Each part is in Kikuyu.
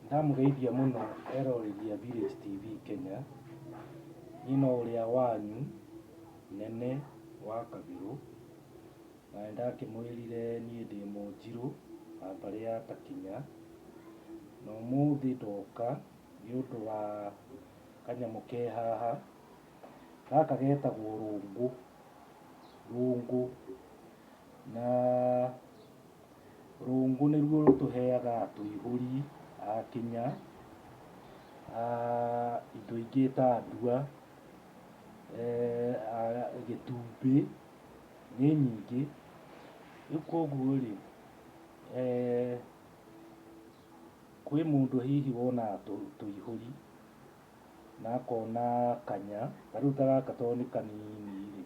Ndamũgeithia mũno eroreri a Village TV Kenya, niĩ no ũrĩa wanyu Nene wa Kabirũ, na nĩ ndakĩmwĩrire niĩ ndĩ Mũnjirũ wa mbarĩ ya Takinya, na ũmũthĩ ndoka nĩ ũndũ wa kanyamũ ke haha, gaka getagwo rũngũ, rũngũ na... Rungu nĩruo rũtũheaga tũihũri a kinya, indo ingĩ ta ndua, gĩtumbĩ, nĩ nyingĩ. Rĩu koguo rĩ, kwĩ mũndũ hihi wonaga tũihũri na akona kanya, ta rĩu ta gaka tondũ nĩ kanini rĩ.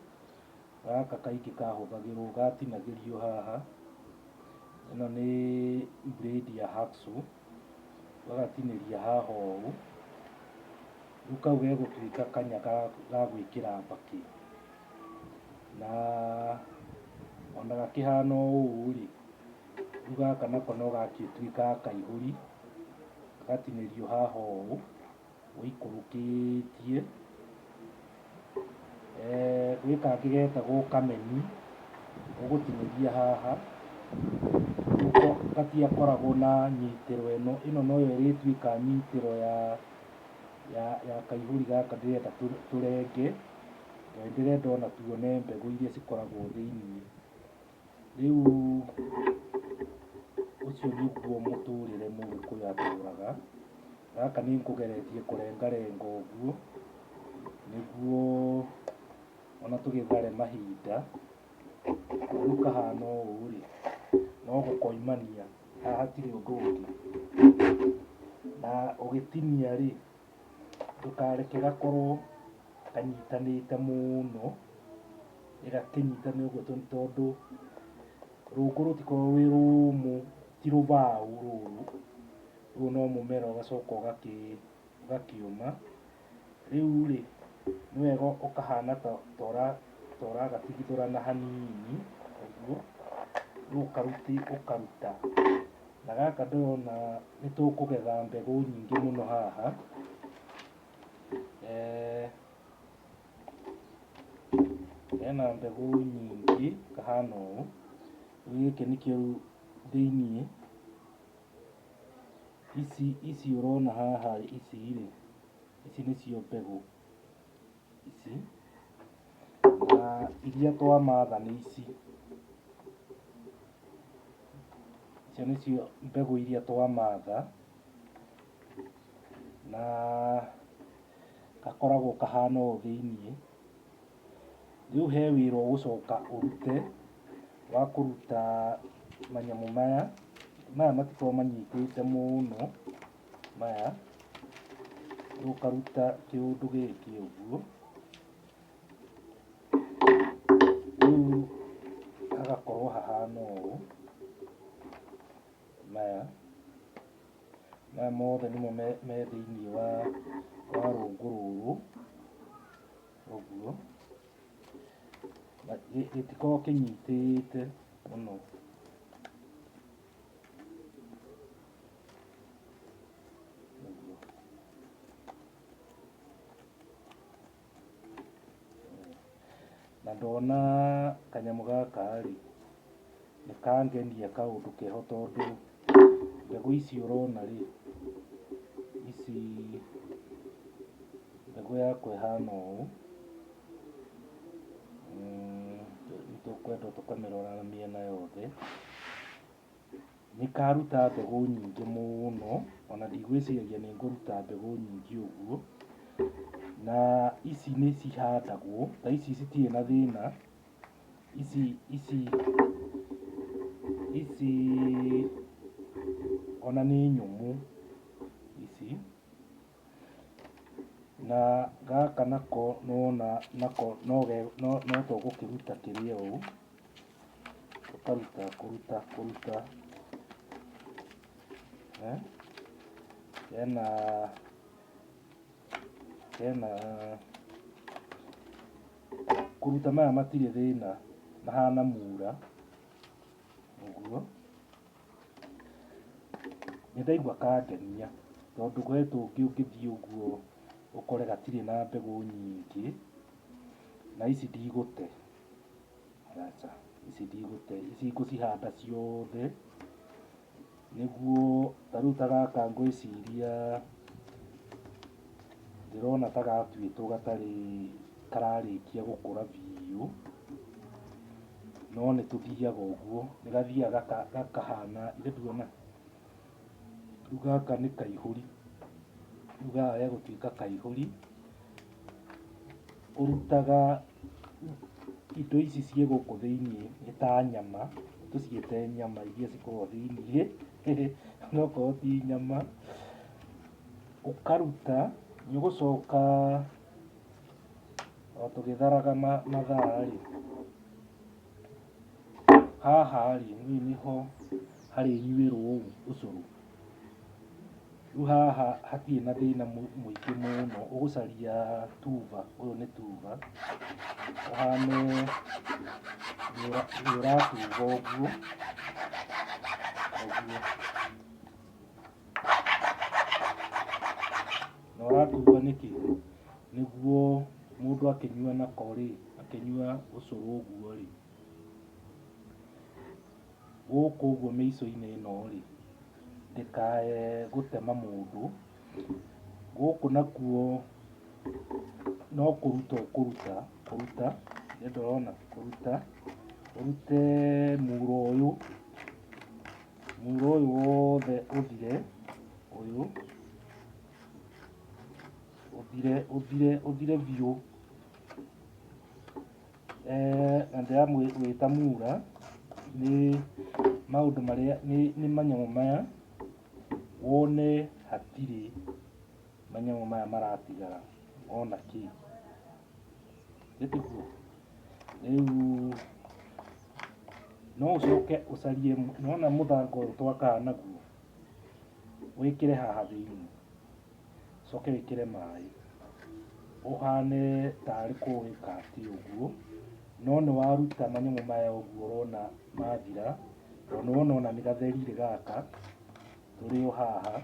Gaka kaingĩ kahũthagĩrwo gatinagĩrio haha, ĩno nĩ blade ya hacksaw, ũgagatinĩria haha ũũ, rĩu kau gegũtuĩka kanya ga gwĩkĩra mbakĩ, na ona gakĩhana ũũ rĩ, rĩu gaka nako no gagĩtuĩkaga kaihũri, gagatinĩrio haha ũũ. Gũikũrũkĩtie eeh gwĩ kangĩ getagwo kameni ũgũtinĩria haha nĩko gatiakoragwo na nyitĩro ĩno ĩno noyo ĩrĩtuĩka nyitĩro ya ya ya kaihũri gaka ndĩrenda tũ- tũrenge tondũ nĩndĩrenda ona tuone mbegũ iria cikoragwo thĩiniĩ. Rĩu ũcio nĩguo mũtũrĩre mũgĩkũyũ atũraga. Gaka nĩ nkũgeretie kũrengarenga ũguo nĩguo ona tũgĩthare mahinda. Rĩu kahana ũũ rĩ, no gũkoimania haha hatirĩ ũndũ ũngĩ. Na ũgĩtinia rĩ, ndũkareke gakorwo kanyitanĩte mũno ĩgakĩnyitana ũguo tondũ tondũ rungu rũtikoragwo rwĩ rũmũ ti rũbaũ rũru rũu no mũmera ũgacoka ũgakĩ ũgakĩũma rĩu rĩ nĩ wega ũkahana ta ta ũra- ta ũragatigithũrana hanini ũguo rĩu ũkaruti ũkaruta na gaka ndĩrona nĩ tũkũgetha mbegũ nyingĩ mũno haha eh, Hena mbegũ nyingĩ kahana ũũ. Rĩu gĩkĩ nĩkĩo rĩu thĩiniĩ. Ici ici ũrona haha ici rĩ, ici nĩcio mbegũ ici. Na iria twamatha nĩ ici. Icio nĩcio mbegũ iria twamatha. na gakoragwo kahana ũũ thĩiniĩ. Rĩu he wĩra ũgũcoka ũrute wa kũruta manyamũ maya, maya matikoragwo manyitĩte mũno maya, rĩu ũkaruta kĩũndũ gĩkĩ ũguo, rĩu hagakorwo hahana ũũ maya. maya mothe nĩmo me me thĩinĩ wa wa rũngũ rũrũ ũguo na gĩ- gĩtikoragwo kĩnyitĩte mũno Na ndona kanyamũ gaka-rĩ, nĩ kangenia kaũndũ keho tondũ mbegũ ici ũrona-rĩ, ici mbegũ yakwa ĩhana ũũ, nĩ tũkwenda tũkamĩrora mĩena yothe. Nĩkaruta mbegũ nyingĩ mũno, ona ndigwĩciragia nĩ ngũruta mbegũ nyingĩ ũguo. Na ici nĩ cihandagwo, ta ici citirĩ na thĩna, ici ici ici ona nĩ nyũmũ ici. Na gaka nako nĩwona nako no ge no no to gũkĩruta kĩrĩa ũũ, ũkaruta kũruta kũruta eh, kena kena kũruta maya matirĩ thĩna mahana mura ũguo Nĩ ndaigua kangenia tondũ he tũngĩ ũngĩthiĩ ũguo ũkore gatirĩ na mbegũ nyingĩ na ici ndigũte, aca ici ndigũte, ici ngũcihanda ciothe nĩguo ta rĩu ta gaka ngwĩciria ndĩrona ta gatuĩtwo gatarĩ kararĩkia gũkũra biũ. no nĩ tũthiaga ũguo nĩ gathiaga gaka- gakahana irĩtuona rĩu gaka nĩ kaihũri rĩu gaka gegũtuĩka kaihũri ũrutaga indo ici ciĩ gũkũ thĩinĩ nĩ ta nyama tũciĩte nyama iria cikoragwo thĩinĩ onokorwo ti nyama ũkaruta nĩ ũgũcoka O tũgĩtharaga ma- mathaa-rĩ, haha-rĩ, rĩu nĩho harĩnyuĩrwo ũcũrũ. Rĩu haha hatirĩ na thĩna mũ- mũingĩ mũno, ũgũcaria tuba, ũyũ nĩ tuba, ũhane nĩũra- nĩũratuba ũguo, ũguo. Na ũratumbwa nĩkĩ? Nĩguo mũndũ akĩnyua nako rĩ, akĩnyua ũcũrũ ũguo rĩ, gũkũ ũguo mĩico-inĩ ĩno rĩ, ndĩkae gũtema mũndũ, gũkũ nakuo no kũruta ũkũruta, kũruta, nĩ ũndũ ũrona, kũruta, ũrute muuro ũyũ, mũhuro ũyũ wothe ũthire, ũyũ ũthire ũthire ũthire biũ. Eh, na ndĩramwĩta mura nĩ maũndũ marĩa nĩ nĩ manyamũ maya wone hatirĩ manyamũ maya maratigara ona kĩ. Nĩ tiguo? rĩu no ũcoke ũcarie nona mũthanga ũyũ twakaga naguo wĩkĩre haha thĩinĩ ũcoke wĩkĩre maĩ ũhane tarĩ kũwĩka ti ũguo no nĩ waruta manyamũ maya ũguo ũrona mathira tondũ nĩ wona ona nĩ gatherire gaka tũrĩ o haha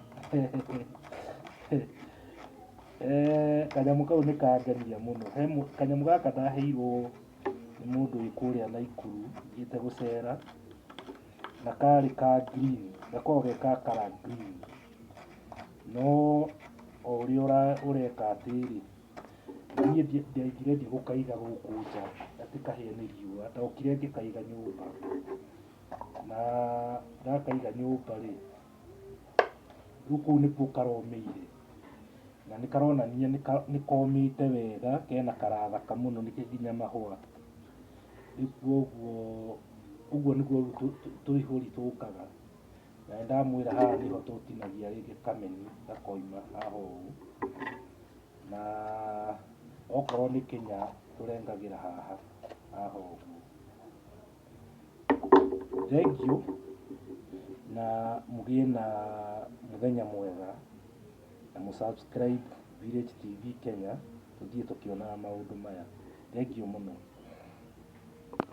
Eh, kanyamũ kau nĩ kangenia mũno he mũ- kanyamũ gaka ndaheirwo nĩ mũndũ wĩ kũrĩa naikuru thiĩte gũcera na karĩ ka green gakoragwo ge ka kara green no o ũrĩa ũra- ũreka atĩrĩ niĩ ndi- ndiaingire ndigũkaiga gũkũ nja atĩ kahĩe nĩ riũa ndokire ngĩkaiga nyũmba na gakaiga nyũmba rĩ rĩu kũu nĩkuo karomĩire na nĩ karonania nĩ ka- nĩ komĩte wega kena karathaka mũno nĩkĩo nginya mahũa rĩu kuoguo ũguo nĩguo rĩu tũ- tũ- tũihũri tũkaga na nĩ ndamwĩra haha nĩho tũtinagia rĩngĩ kameni gakoima haha ũũ na okorwo nĩ kĩnya tũrengagĩra haha haha ũguo Thengiũ na mũgĩe na mũthenya mwega na mũ subscribe Village TV Kenya tũthiĩ tũkĩonaga maũndũ maya. Thengiũ mũno.